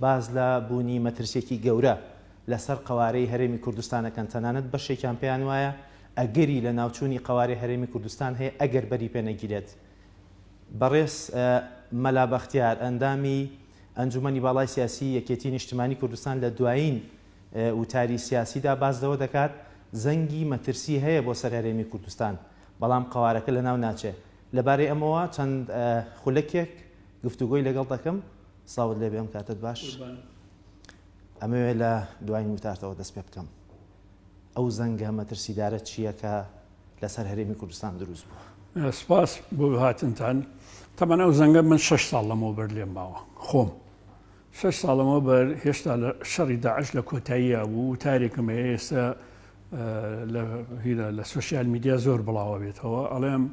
باس لە بوونی مەترسیەکی گەورە لە سەر قەوارەی هەرێمی کوردستان ئەکەن، تەنانەت بەشێکیان پێیان وایە ئەگەری لە ناوچوونی قەوارەی هەرێمی کوردستان هەیە ئەگەر بەری پێ نەگیرێت. بەڕێز مەلا بەختیار ئەندامی ئەنجومەنی باڵای سیاسی یەکێتی نیشتمانی کوردستان لە دوایین وتاری سیاسیدا باس لەوە دەکات زەنگی مەترسی هەیە بۆ سەر هەرێمی کوردستان بەڵام قەوارەکە لە ناو ناچێت. لە بارەی ئەمەوە چەند خولەکێک گفتوگۆی لەگەڵ دەکەم. سڵاوت لێبێ ئەم کاتت باش ئەمەوێ لە دوایین وتارتەوە دەست پێ بکەم ئەو زەنگە مەترسیدارە چییە کە لەسەر هەرێمی کوردستان دروست بووە سپاس بۆ هاتنتان تەمەەن ئەو زەنگە من شش ساڵ لەمەوە بەر لێم ماوە خۆم شش ساڵەمەوە بەر هێشتا لە شەڕی داعش لە کۆتاییە بوو تارێکم هەیە ئێستا لە سوسیال میدیا زۆر بڵاوە بێتەوە ئەڵێم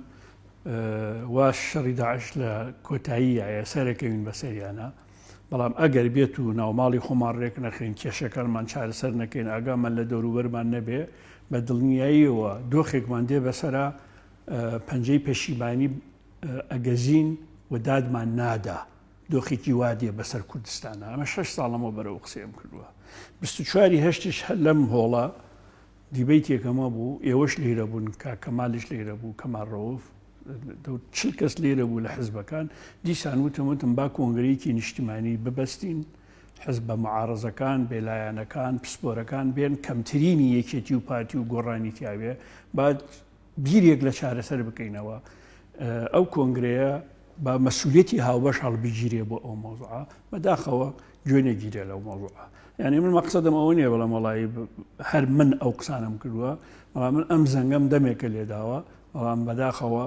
وا شەڕی داعش لە کۆتاییایە سەرەکەوین بە سەریانە بەڵام ئەگەر بێت و ناوماڵی خۆمان ڕێک نەخین کێشەکانمان چارەسەر نەکەین ئاگامان لە دەوروبەرمان نەبێ بە دڵنیاییەوە دۆخێکمان دێ بەسرە پەنجەی پەشیمانی ئەگەزین و دادمان نادا دۆخێکی وادێ بەسەر کوردستانە ئەمە شش ساڵەمەوە بەرەو قسەم کردووە 24 هەشتش لەم هۆڵە دیبەیتێک ئەمە بوو ئێوەش لێرە بوون کاک کەمالیش لێرە بوو کەمال ڕەوف چل کەس لێرە بوو لە حزبەکان دیسان وتم وتم با کۆنگرەیەکی نیشتیمانی ببەستین حزب بە معارەزەکان بێلایەنەکان پسپۆرەکان بێن کەمترینی یەکێتی و پارتی و گۆڕانی تیاوێ بعد بیرێک لە چارەسەر بکەینەوە ئەو کۆنگرەیە بە مەسوولەتی هاوبەش هەڵبگیرێ بۆ ئەو مۆزوعە بەداخەوە گوێ نەگیرێ لەو مۆزوعە یعنی من مەقصدم ئەوە نیە بەڵام وڵی هەر من ئەو قسانم کردووە بەڵام من ئەم زەنگەم دەمێکە لێداوە بەڵام بەداخەوە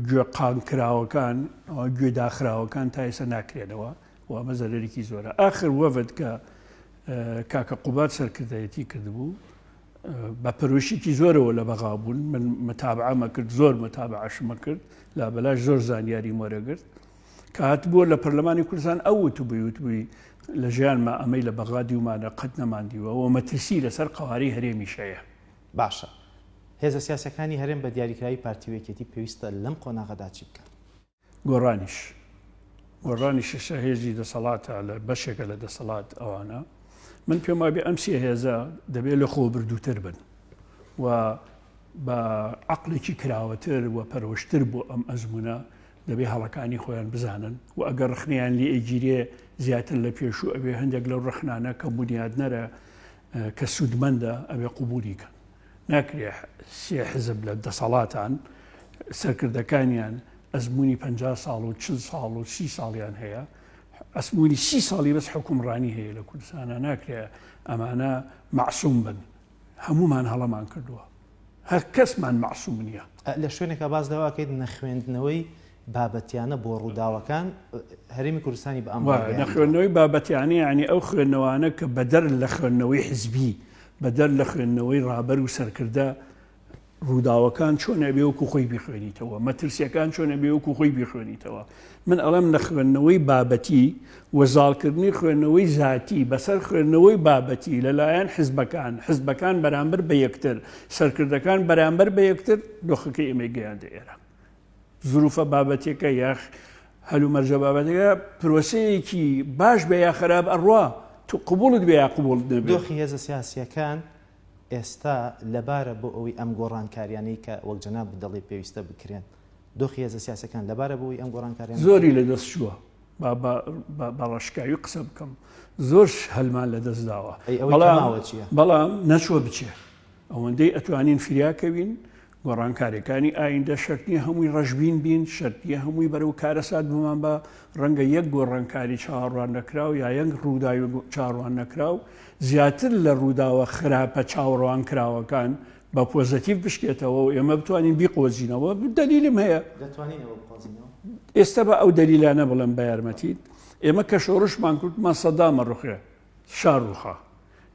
گوێ قان کراوەکان گوێ داخراوەکان تا ئێستا ناکرێنەوە و ئەمە زەرەرێکی زۆرە آخر وەفد کە کاکە قوبات سەرکردایەتی کردبوو بە پەرۆشیکی زۆرەوە لە بەغا بوون من متابعەمە کرد زۆر متابعشمە کرد لا بەلاش زۆر زانیاری مۆرەگرت کە هات بووە لە پەرلەمانی کوردستان ئەو وت بووی وت بووی لە ژیانمە ئەمەی لە بەغا دیومانە قەت نەماندیوە و مەترسی لەسەر قەواری هەرێمی شەیە باشە هێزە سیاسەکانی هەرێم بە دیاریکراوی پارتی و یەکێتی پێویستە لەم قۆناغەدا چی بکەن؟ گۆڕانیش گۆڕانی شەشە هێزی دەسەڵاتە لە بەشێکە لە دەسەڵات ئەوانە من پێم وابێ ئەم سێ هێزە دەبێت لە خۆ بردووتر بن و بە عقلێکی کراوەتر و پەرۆشتر بۆ ئەم ئەزمونە دەبێ هەڵەکانی خۆیان بزانن و ئەگەر ڕخنیان لێ ئەگیرێ زیاتر لە پێشوو ئەوێ هەندێک لەو ڕخنانە کە بنیادنەرە کە سوودمەندە ئەوێ قوبولی کەن ناکرێ سێ حزب لە دەسەڵاتان سەرکردەکانیان ئەزموونی پەنجا ساڵ و چل ساڵ و سی ساڵیان هەیە ئەسموونی سی ساڵی بەس حکومڕانی هەیە لە کوردستانە ناکرێ ئەمانە معسووم بن هەمومان هەڵەمان کردووە هەر کەسمان معسووم نییە. لە شوێنێکا باس لەوە ئەکەیت نەخوێندنەوەی بابەتیانە بۆ ڕووداوەکان هەرێمی کوردستانی بە ئەم نە خوێندنەوەی بابەتیانە یعنی ئەو خوێندنەوانە کە بەدەر لە خوێندنەوەی حزبی بەدەر لە خوێندنەوەی ڕابەر و سەرکردە ڕووداوەکان چۆنە بێوەکو خۆی بخوێنیتەوە مەترسیەکان چۆنە بێوەکو خۆی بخوێنیتەوە من ئەڵم لە خوێندنەوەی بابەتی وەزاڵکردنی خوێندنەوەی زیاتی بەسەر خوێندنەوەی بابەتی لەلایەن حزبەکان حزبەکان بەرامبەر بە یەکتر سەرکردەکان بەرامبەر بە یەکتر دۆخەکەی ئێمەی گەیاندە ئێرە زروفە بابەتیەکە یا هەلومەرجە بابەتەکە پرۆسەیەکی باش بێ یا خراپ ئەڕوا تو قوبولت بێ یا قوبولت نەبێ دۆخی هێزە سیاسیەکان ئێستا لەبارە بۆ ئەوی ئەم گۆڕانکاریانەی کە وەک جەناب دەڵی پێویستە بکرێن دۆخی هێزە سیاسەکان لەبارە بۆی ئەم گۆڕانکاریان زۆری لە دەست چووە بەڕشکاوی قسە بکەم زۆر هەلمان لە دەست داوە بەڵام نەچوە بچێ ئەوەندەی ئەتوانین فریاکەوین گۆڕانکاریەکانی ئایندە شەرت نیە هەمووی ڕەشبین بین، شەرت نیە هەمووی بەرەو کارەسات بمان با، ڕەنگە یەک گۆڕانکاری چاوەڕوان نەکراو یا یەک ڕووداوی چاوەڕوان نەکراو زیاتر لە ڕووداوە خراپە چاوەڕوانکراوەکان بە پۆزەتیڤ بشکێتەوە و ئێمە بتوانین بیقۆزینەوە، دەلیلم هەیە ئێستا با ئەو دەلیلانە بڵێم بە یارمەتیت، ئێمە کە شۆڕشمان کورد ماسەدامە ڕوخێ، شا ڕووخا.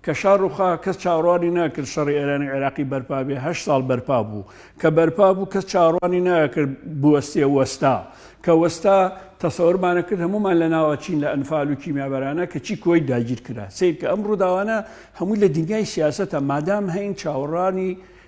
کە شا ڕووخا، کەس چاوەڕوانی ناکرد شەڕی ئێرانی-عێراقی بەرپا بێ، هەشت ساڵ بەرپا بوو. کە بەرپا بوو، کەس چاوەڕوانی ناکرد بوەستێ، وەستا. کە وەستا، تەسەورمان ئەکرد هەموومان لە ناو ئەچین لە ئەنفال و کیمیابەرانە، کەچی کوەیت داگیر کرا. سەیرکە ئەم ڕووداوانە هەمووی لە دنیای سیاسەتە، مادام هەین چاوەڕوانی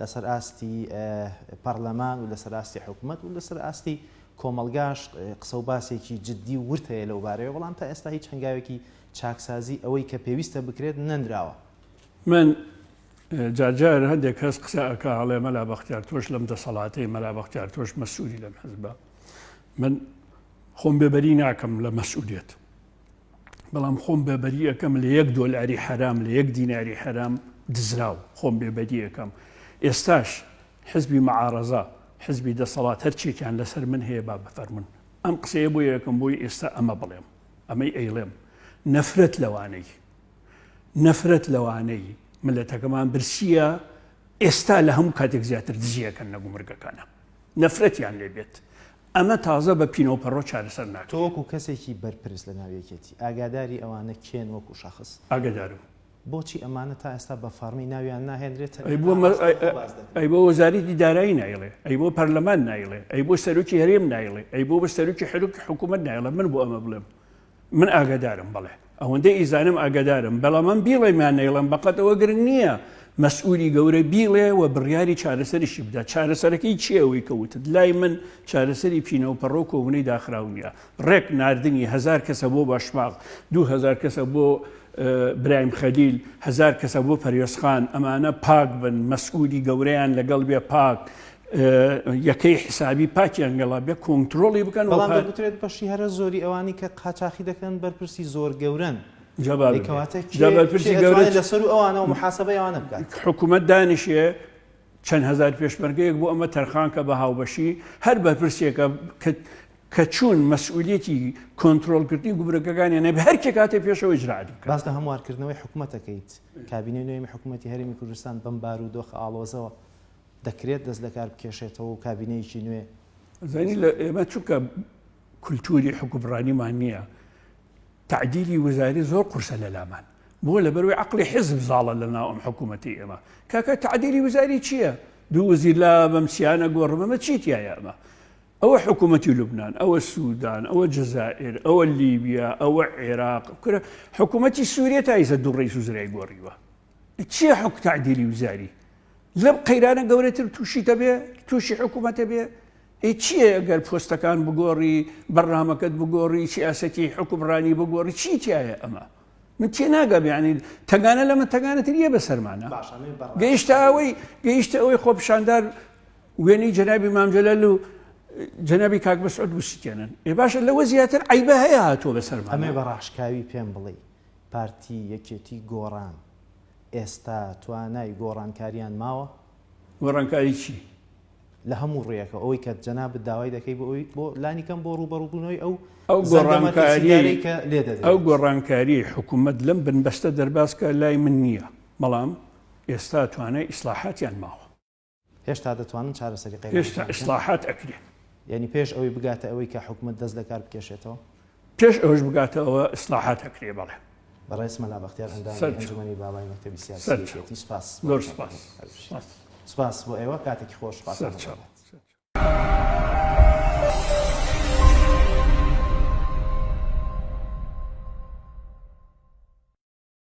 لەسەر ئاستی پەڕلەمان و لەسەر ئاستی حکومەت و لەسەر ئاستی کۆمەڵگاش قسە و باسێکی جدی و ورد هەیە لەو بارەیەوە، بەڵام تا ئێستا هیچ هەنگاوێکی چاکسازی ئەوەی کە پێویستە بکرێت نەنراوە. من جار جار هەندێک کەس قسە ئەکا ئەڵێ مەلا بەختیار تۆش لەم دەسەڵاتەی، مەلا بەختیار تۆش مەسوولی لەم حزبە. من خۆم بێبەری ناکەم لە مەسوولیەت، بەڵام خۆم بێبەری ئەەکەم لە یەک دۆلاری حرام لە یەک دیناری حرام دزراو خۆم بێبەری ئەەکەم ئێستاش حزبی مەعاڕزە حزبی دەسەڵات هەرچێکیان لەسەر من هەیە با بفەرمن ئەم قسەیە بۆ یەکەم بۆی ئێستا ئەمە بڵێم ئەمەی ئەیڵێم نەفرەت لەوانەی نەفرەت لەوانەی ملەتەکەمان برسیە ئێستا لە هەموو کاتێک زیاتر دزیەکەن نەگومرگەکانە نەفرەتیان لێبێت ئەمە تازە بە پینەوپەڕۆ چارەسەر ناکرێت. تۆ وەکو کەسێکی بەرپرس لە ناو یەکێتی، ئاگاداری ئەوانە کێن وەکو شەخس؟ ئاگادارم. بۆچی ئەمانە تا ئێستا بە فەڕمی ناویان ناهێنرێت؟ ئەی بۆ ئەی بۆ وەزارەتی دارایی نایڵێ؟ ئەی بۆ پەرلەمان نایڵێ؟ ئەی بۆ سەرۆکی هەرێم نایڵێ؟ ئەی بۆ بە سەرۆکی حەرۆکی حکوومەت نایڵێ؟ من بۆ ئەمە بڵێم؟ من ئاگادارم بەڵێ ئەوەندەی ئیزانم ئاگادارم بەڵامم بیڵێ میان نەیڵم بەقەت ئەوە گرنگ نییە مەسئولی گەورە بیڵێ و بڕیاری چارەسەریشی بدا چارەسەرەکەی چیەوەی کەوتت لای من چارەسەری پینەوە پەڕۆ کۆبنەی داخراو نیە ڕێک نردنی هزار کەسە بۆ باشماغ دوهزار کەسە بۆ برایم خەدیل هزار کەسە بۆ پەرێزخان ئەمانە پاک بن مەسئولی گەورەیان لەگەڵ بێ پاک یەکەی حسابی پاکیان گەڵا بێ کۆنتترۆڵی بکەن بەڵام دەگوترێت بەشی هەرە زۆری ئەوانی کە قاچاخی دەکەن بەرپرسی زۆر گەورن جوابەکەواتەپرسی گەورە لەسەر و ئەوانەوە محاسبە ئەوانە بکات حکوومەت دانیشێ چەند هزار پێشمەرگەیەک بۆ ئەمە تەرخانکە بە هاوبەشی هەر بەرپرسێکە کە چوون مەسئولەتی کۆنتترۆلکردنی گوبرەکەەکانی نەبێ هەرکێک کاتێ پێشەوە جراد باس لە هەموارکردنەوەی حکوومەتەکەیت کابینەی نوێمی حکوومەتتی هەرمی کوردستان بەم بار و دۆخ ئاڵۆزەوە دەکرێت دەست لەکار بکێشێتەوە و کابینەیەکی نوێ زانی لە ئێمە چونکە کولتوری حکوبڕانیمان نییە تعدیلی وزاری زۆر قورسە لە لامان بۆ لە بەروی عقلی حزب زاڵە لە ناو ئەم حکوومەتی ئێمە کاکە تعدیلی وزاری چییە دوو وزیر لا بەمسیانە گۆڕمەمە چیتیایە ئەمە ئەوە حکوومەتی لوبناان ئەوە سوودان ئەوە جزائر ئەوە لیبیا ئەوە عێراق کورە حکوومەتی سووریە تایزە دوو ڕیز و زرای گۆڕیوە چیە حوک تعدیلی وزاری لەم قەیرانە گەورەتر تووشی دەبێ تووشی حکوومەتە بێ ئێ چیە گەر پۆستەکان بگۆڕی بەرنمەکەت بگۆڕی سیاسەتی حکومڕانی بگۆڕی چی تایە ئەمە من تێ ناگەبیانی تەگانە لە من تەگانەتریە بە سەرمانە گەیشتە ئەوەی گەیشتە ئەوەی خۆپشاندار وێنەی جەنابی مامجلل و جەنابی کاک بەسعود وسیتێنن ئێ باشە لەوە زیاتر عیبە هەیە هاتووە بەسەر ئەمێ بە ڕاشکاوی پێم بڵێ پارتی یەکێتی گۆڕان ئێستا توانای گۆڕانکاریان ماوە؟ گۆڕانکاری چی؟ لە هەموو ڕویەکەوە ئەوەی کە جەنابت داوای دەکەی بۆ ئەوی بۆ لانی کەم بۆ ڕوبەڕو بونەوەی ئەو ئەو گۆڕانکاری کە لێ دەدەی ئەو گۆڕانکاری حکوومەت لەم بنبەستە دەرباز کە لای من نییە بەڵام ئێستا توانای ئیسلاحاتیان ماوە. هێشتا دەتوانن چارەسەری قەیرانەکان بکەن؟ هێشتا ئیسلاحات ئەکرێ. یانی پێش ئەوەی بگاتە ئەوەی کە حکومەت دەست لەکار بکێشێتەوە؟ پێش ئەوەش بگاتە ئەوە ئیسلاحات ئەکرێ بەڵێ. بەڕێز مەلا بەختیار ئەندامی ئەنجومەنی باڵای مەکتەبی سیاسیەتی سوپاس زۆر سوپاس سوپاس بۆ ئێوە کاتێکی خۆش سپاس.